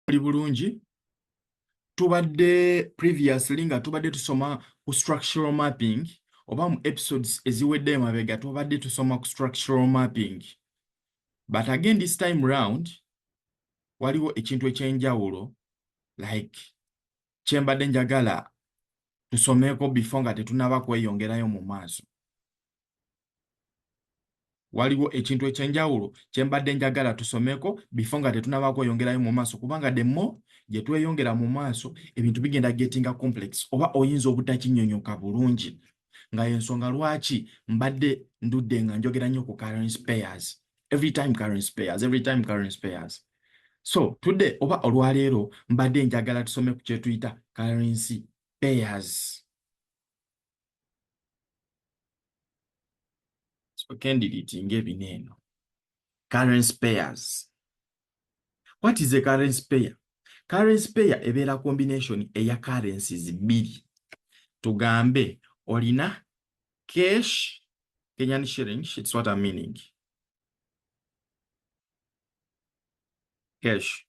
muli bulungi tubadde previously nga tubadde tusoma ku structural mapping oba mu episodes eziwedde emabega tubadde tusoma ku structural mapping but again this time round waliwo ekintu ekyenjawulo like kyembadde njagala tusomeeko before nga tetunaba kweyongerayo mu maaso waliwo ekintu ekyenjawulo kyembadde njagala tusomeko bifo nga tetunabaako oyongerayo mu maaso kubanga demo gye tweyongera mu maaso ebintu bigenda gettinga complex oba oyinza obutakinyonyoka bulungi nga yensonga lwaki mbadde ndudde nga njogera nnyo ku current payers every time current payers every time current payers so today oba olwaleero mbadde njagala tusome ku kyetuyita currency payers kendiritinga ebina eno current pairs what is a current pair current pair ebeera combination eya currencies bbiri tugambe olina cash kenyan shilling its what a meaning cash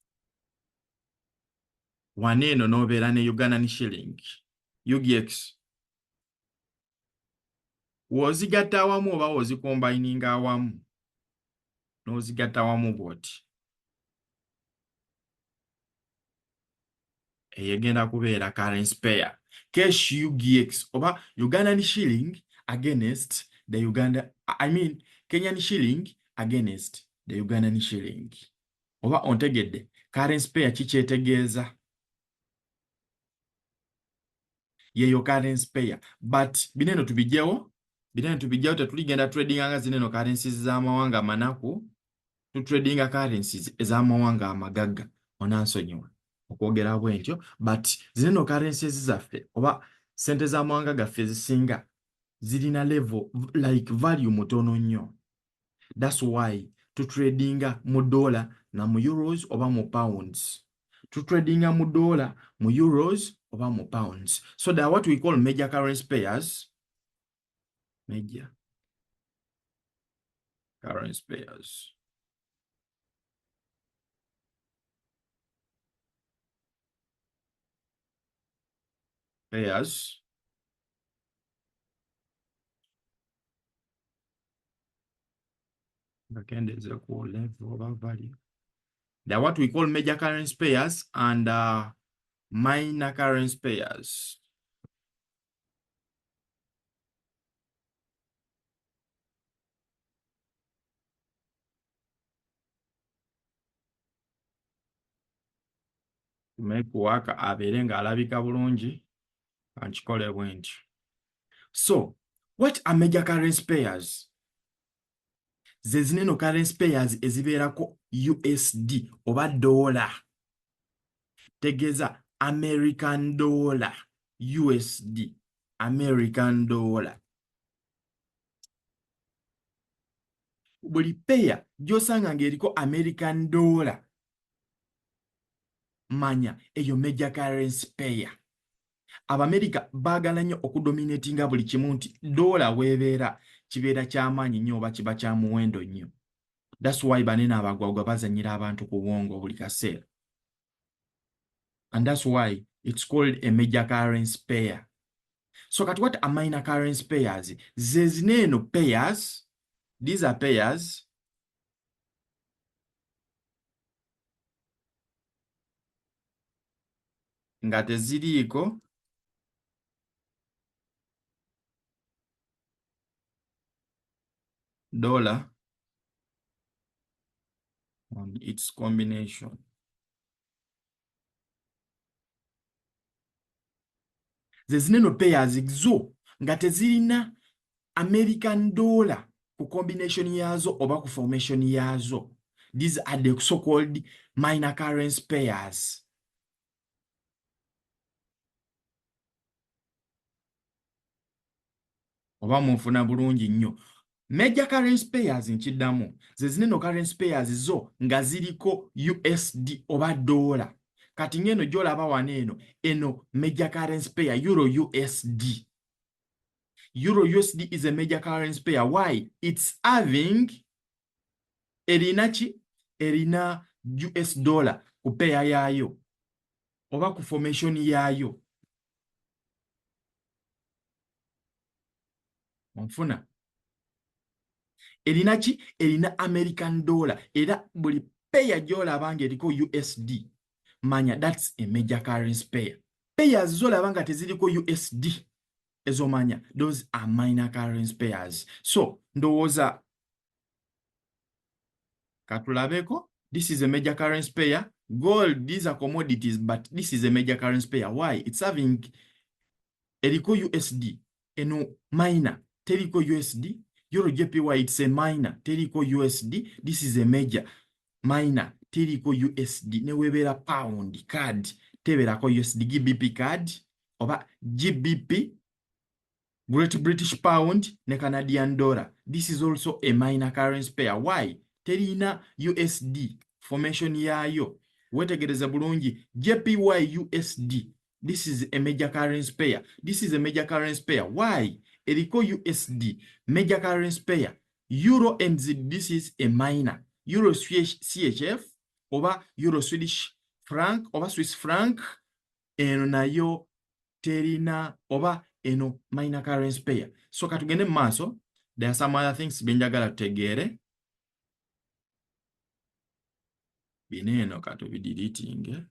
wano eno n'obeera ne ugandan shilling UGX w'ozigatta awamu oba w'ozikombayininga awamu n'ozigatta awamu bw'oti eyo egenda kubeera currency pair cash UGX oba Ugandan shilling against the Uganda I mean Kenyan shilling against the Ugandan shilling oba ontegedde currency pair kikyetegeeza yeyo currency payer but bineno tubijewo bineno tubijewo tetuligenda tradinga nga zineno currencies z'amawanga amanaku tutradinga currencies ez'amawanga amagagga onansonyiwa okwogera bwentyo but zineno currencies zaffe oba sente z'amawanga gaffe ezisinga zirina level like value mutono nnyo thats why tutradinga mu dollar na mu euros oba mu pounds tutradinga mu dollar mu euros oba mu pounds so there are what we call major currency payers major currency payers payers bakendeeze ku level oba value the what we call major currency pairs and uh, minor currency pairs tumekuwaka abeere ng'alabika bulungi ankikole bwentyo so what are major currency payers zezina eno currency payers ezibeerako usd oba doola tegeeza american dollar usd american dollar buli peya gyosanga ngaeriko american dollar manya eyo major currency payer abamerika baagala nnyo okudominatinga buli kimu nti doola weebeera kibeera kyamaanyi nnyo oba kiba kya muwendo nnyo thats why banene abagwagwa bazanyira abantu ku bwongo buli kaseera and thats why its called a major currency payer so kati wat amina currency payers zezina eno payers these are payers nga teziriiko dollar on its combination zezineno payers zo nga tezirina american dollar ku combination yaazo oba ku formation yaazo these are the so called minor currency payers oba munfuna bulungi nnyo major currency payers nkiddamu ze zineno currency payers zo nga ziriko usd oba doola kati ng'eno gyolaba wano eno eno major currency payer euro usd euro usd is a major currency payer why its having erina ki erina us dollar ku peya yaayo oba ku formation yaayo onfuna erina ki erina american dollar era buli peya gyolaba nga eriko usd manya thats a major currency payer payers zolaba nga teziriko usd ezomanya those are minor currency payers so ndowooza katulabeko this is a major currency pair gold these are commodities but this is a major currency pair why it's having eriko usd eno minor teriko usd euro jpy it's a minor teriko usd this is a major minor teriko usd newebeera pound card teberako usd gbp card oba gbp great british pound ne canadian dollar this is also a minor currency pair why terina usd formation yaayo wetegereza bulungi jpy usd this is a major currency pair this is a major currency pair why eriko usd major currency pair euro and zid this is a minor euro chf oba euro swedish frank oba swiss frank eno nayo terina oba eno minor currency pair so katugende mu maaso there are some other things byenjagala tutegeere bino eno katubidiritinge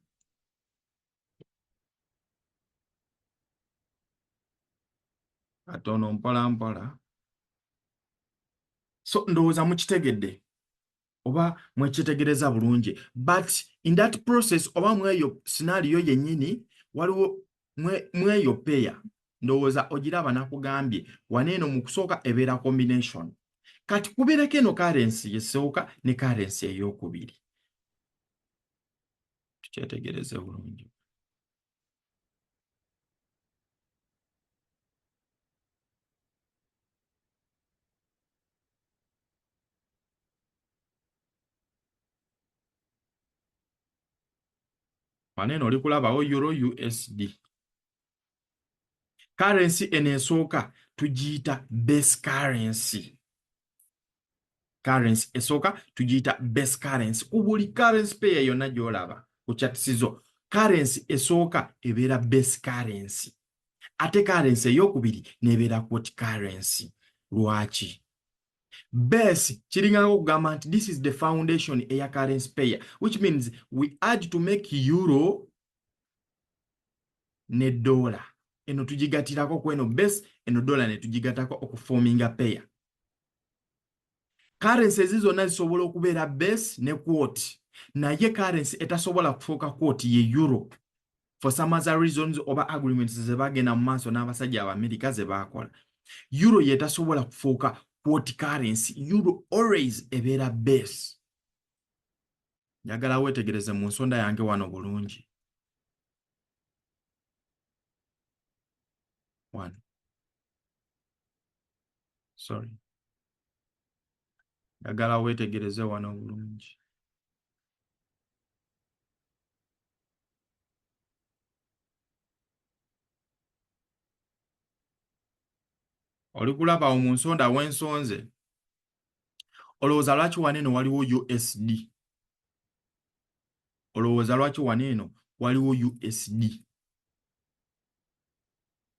katono mpola mpola so ndowooza mukitegedde oba mwekyetegereza bulungi but in that process oba mweyo sinaaliyo yennyini waliwo mweyo peya ndowooza ogiraba nakugambye waneeno mu kusooka ebeera combination kati kubeereko eno karensi yesooka ne karensi ey'okubiri tukyetegereze bulungi maneno oli kulabawo euro usd currency eno esooka tugiyita base currency currency esooka tugiyita base currency ku buli currency payer yonna gy'olaba ku chatisizo currency esooka ebeera base currency ate currency ey'okubiri n'ebeera quote currency lwaki base kiringana okugamba nti this is the foundation eya currency payer which means we add to make euro ne dollar eno tugigatirako kweno base eno dollar ne tugigatako okuforminga payer currency ezi zonna zisobola okubeera base ne quote naye currency etasobola kufuuka quote ye euro for some other reasons oba agreements ze bagenda mu maaso n'abasajja abamerika ze baakola euro yetasobola kufuuka quote currency euro always ebeera base njagala weetegereze mu nsonda yange wano bulungi wano sorry njagala weetegereze wano obulungi oli kulaba mu nsonda wensonze olowooza lwaki wano eno waliwo usd olowooza lwaki wano eno waliwo usd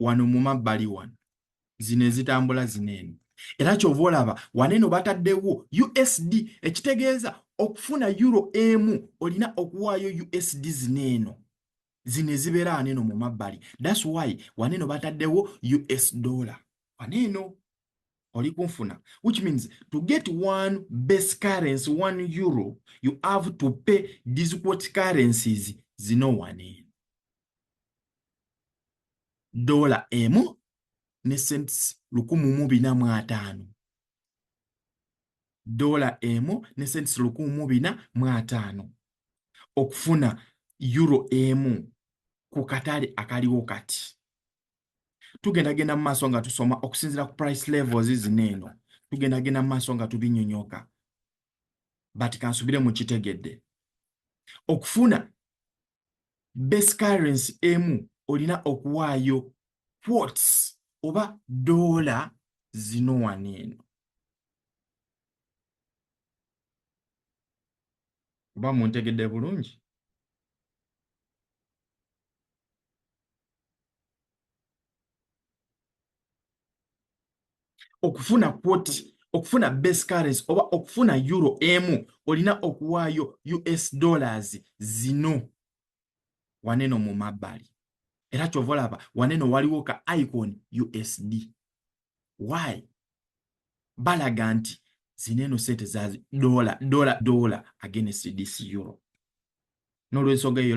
wano mu mabbali wano zino ezitambula zino eno era kyova olaba wano eno bataddewo usd ekitegeeza okufuna euro emu olina okuwaayo usd zino eno zino ezibeera wano eno mu mabbali thats why wano eno bataddewo us dollar wano eno oli kunfuna which means to get one base currency one euro you have to pay these quote currencies zino wano eno doola emu ne sents lukumu mu bina mu ataano doola emu ne sents lukumu mu bina mu ataano okufuna euro emu ku katale akaliwo kati tugenda genda mu maaso nga tusoma okusinzira ku price levels zino eno tugenda genda mu maaso nga tubinyonyoka but kansubire mukitegedde okufuna base currency emu olina okuwaayo quarts oba doola zino wano eno oba muntegedde bulungi okufuna kwoti okufuna base currency oba okufuna euro emu olina okuwaayo us dollars zino waneno mu mabbali era kyova olaba waneno waliwo ka icon usd y balaga nti zino eno sente za dola dola dola against this euro n'olwensonga eyo